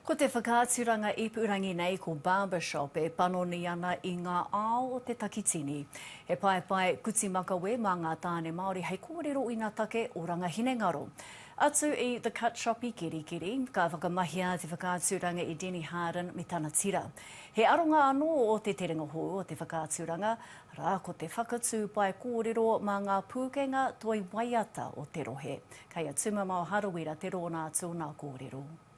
Ko te whakaaturanga ipurangi nei ko Barbershop e panoni ana i ngā ao o te takitini. He paepae kuti makawe mā ngā tāne Māori hei kōrero ina take o rangahinengaro. Atu i The Cut Shop i Kerikeri, ka whakamahia te whakaaturanga i Denny Harden me tana tira. He aronga anō o te terenga hou o te whakaaturanga, arā, ko te whakatū pae kōrero mā ngā pūkenga toi waiata o te rohe. Kei a Tumamao Harawira te rōna atu o nā kōrero.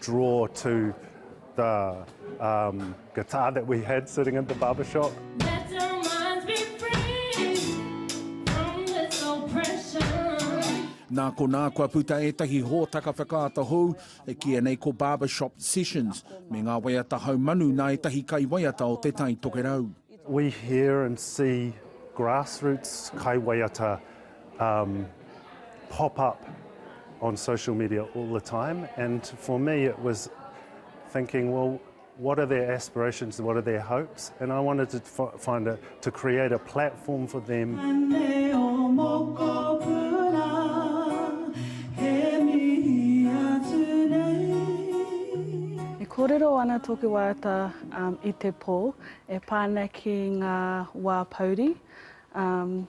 draw to the um, guitar that we had sitting in the barber shop. Nā konā kua puta ētahi hōtaka whakaata hou e kīia nei ko Barbershop Sessions me ngā waiata haumanu nā ētahi kaiwaiata o Te Tai Tokerau. We hear and see grassroots kaiwaiata um pop up on social media all the time and for me it was thinking well what are their aspirations what are their hopes and I wanted to find a to create a platform for them E kōrero ana tōku waiata um, i te pō e pā ana ki ngā wā pouri um,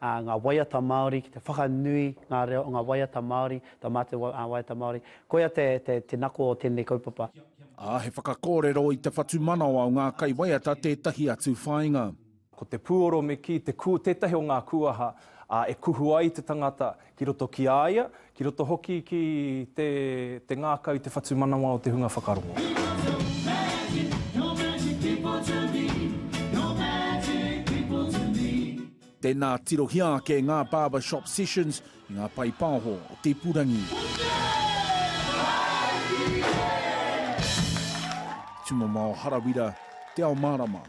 ā, ngā waiata Māori, ki te whakanui ngā reo o ngā waiata Māori, tō mātou waiata Māori. Koia te, te, te nako o tēnei kaupapa. Ā, he whakakōrero i te whatumanawa o ngā kaiwaiata tētahi atu whāinga. Ko te pūoro me kī, te kū, tētahi o ngā kūaha, ā, e kuhu ai te tangata, ki roto ki a ia, ki roto hoki ki te, te ngākau, te whatumanawa o te hunga whakarongo. Tēnā, tirohia ake ngā Barber Shop Sessions i ngā paepaoho o te ipurangi. Tumamao Harawira, Te Ao Mārama.